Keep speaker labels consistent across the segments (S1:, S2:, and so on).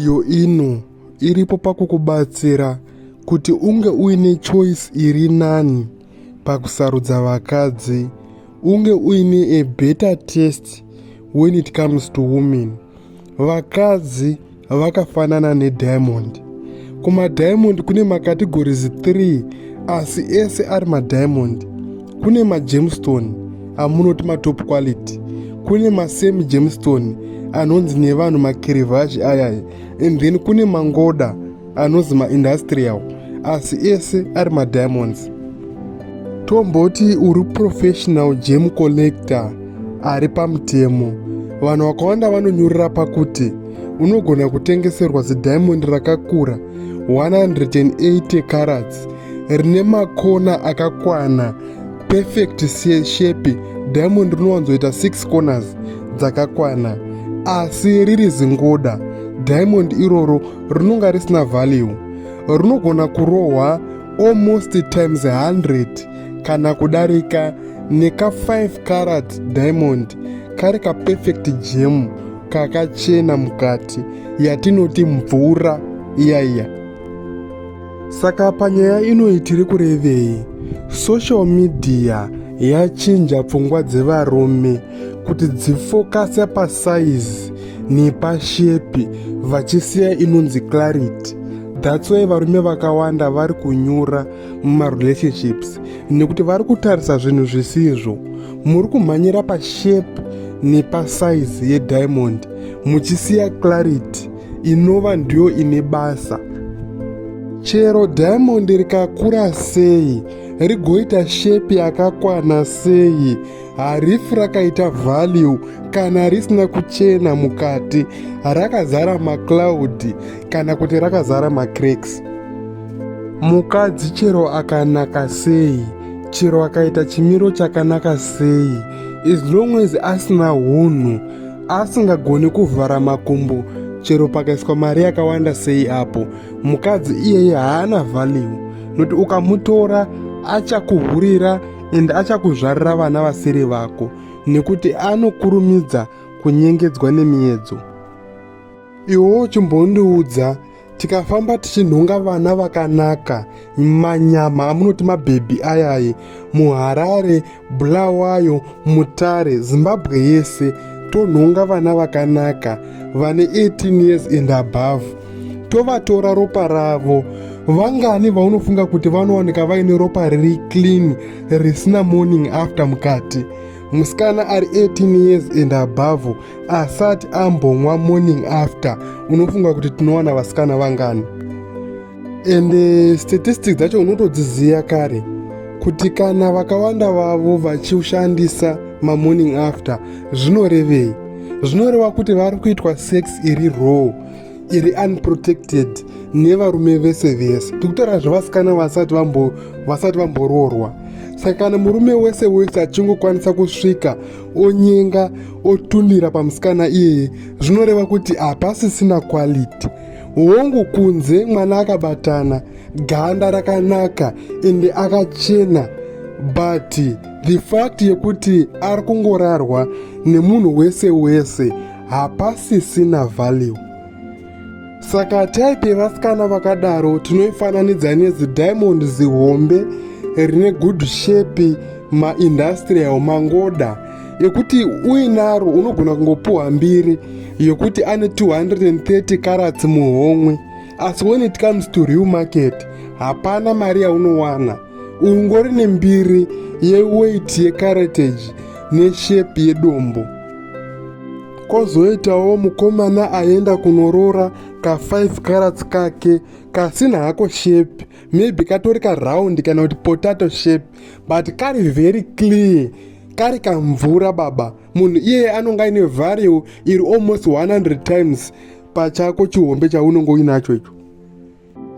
S1: Iyo ino iripo pakukubatsira kuti unge uine choice iri nani pakusarudza vakadzi unge uine a better test when it comes to women vakadzi vakafanana nediamond kumadiamond kune makategorizi 3 asi ese ari madiamond kune magemstone amunoti matop quality kune masemi gemstone anonzi nevanhu makirivhaji ayaya and then kune mangoda anonzi maindustrial asi ese ari madiamonds tomboti uri professional gem collector ari pamutemo vanhu vakawanda vanonyurira pakuti unogona kutengeserwa zidiamond rakakura 180 carats rine makona akakwana perfect shape diamond rinowanzoita 6 corners dzakakwana asi riri zingoda diamond iroro rinonga risina value rinogona kurohwa almost times 100 kana kudarika neka 5 carat diamond kari kaperfect gem kakachena mukati yatinoti mvura iyaiya iya. Saka panyaya inoyi tiri kurevei? Social media yachinja pfungwa dzevarume kuti dzifokase pasaizi nepashepi vachisiya inonzi clarity that's why varume vakawanda vari kunyura mumarelationships nekuti vari kutarisa zvinhu zvisizvo muri kumhanyira pashepi nepasaizi yediamond muchisiya clarity inova ndiyo ine basa chero diamond rikakura sei rigoita shepi yakakwana sei harifi rakaita value kana risina kuchena mukati rakazara macloud kana kuti rakazara macracks mukadzi chero akanaka sei chero akaita chimiro chakanaka sei as long as asina hunhu asingagoni kuvhara makumbo chero pakaiswa mari yakawanda sei apo mukadzi iyeye haana value nokuti ukamutora achakuhurira ende achakuzvarira vana vasiri vako nekuti anokurumidza kunyengedzwa nemiedzo iwo chimbondiudza tikafamba tichinhonga vana vakanaka manyama amunoti mabhebhi ayayi muharare bulawayo mutare zimbabwe yese tonhonga vana vakanaka vane 18 years and above tovatora ropa ravo vangani vaunofunga kuti vanowanika vaine ropa riri clean risina morning after mukati musikana ari 18 years and above asati ambonwa morning after unofunga kuti tinowana vasikana vangani and eh, statistics dzacho unotodziziva kare kuti kana vakawanda vavo vachishandisa mamorning after zvinorevei zvinoreva kuti vari kuitwa sex iri raw iri unprotected nevarume vese vese tikutaura zvevasikana vasati vasati vamboroorwa saka kana murume wese wese achingokwanisa kusvika onyenga otundira pamusikana iyeye zvinoreva kuti hapasisina quality hongu kunze mwana akabatana ganda rakanaka ende akachena but the fact yekuti ari kungorarwa nemunhu wese wese hapasisina value saka type yevasikana vakadaro tinoifananidza nezidiamond zihombe rine good shape maindustrial mangoda yekuti uinaro unogona kungopuhwa mbiri yokuti ane 230 karats muhomwe asi when it comes to real market hapana mari yaunowana ungori nembiri yeweight yecaratage neshape yedombo Kozoitawo mukomana aenda kunoroora ka 5 carats kake kasina hako shape maybe katori ka round kana kuti potato shape but kari very clear kari kamvura baba munhu iyeye anonga ine value iri almost 100 times pachako chihombe chaunonge uinacho icho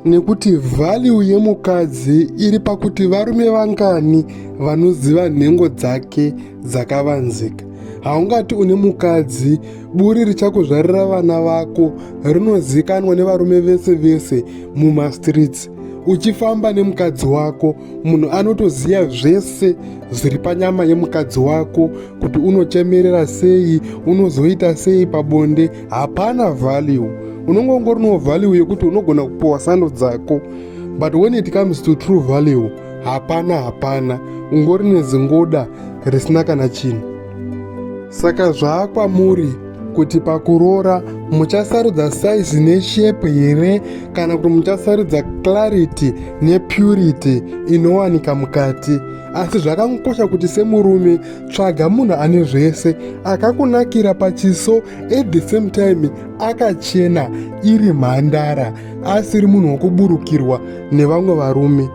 S1: nekuti vhaliu yemukadzi iri pakuti varume vangani vanoziva nhengo dzake dzakavanzika haungati une mukadzi buri richakuzvarira vana vako rinozikanwa nevarume vese vese mumastreets uchifamba nemukadzi wako munhu anotoziva zvese zviri panyama yemukadzi wako kuti unochemerera sei unozoita sei pabonde hapana value unonge ungori no value yekuti unogona kupowa sando dzako but when it comes to true value hapana hapana ungori nezingoda risina kana chinhu saka zvaakwamuri kuti pakuroora muchasarudza saizi neshepe here kana kuti muchasarudza clarity nepurity inowanika mukati asi zvakangokosha kuti semurume tsvaga munhu ane zvese akakunakira pachiso at the same time akachena iri mhandara asiri munhu wokuburukirwa nevamwe varume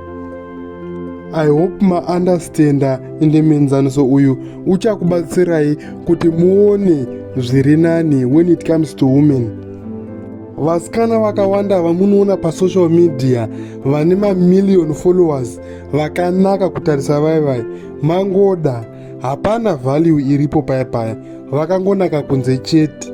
S1: i hope maunderstanda ende muenzaniso uyu uchakubatsirai kuti muone zviri nani when it comes to women vasikana vakawanda vamunoona pasocial media vane mamillion followers vakanaka kutarisa vaivai mangoda hapana value iripo paya paya vakangonaka kunze chete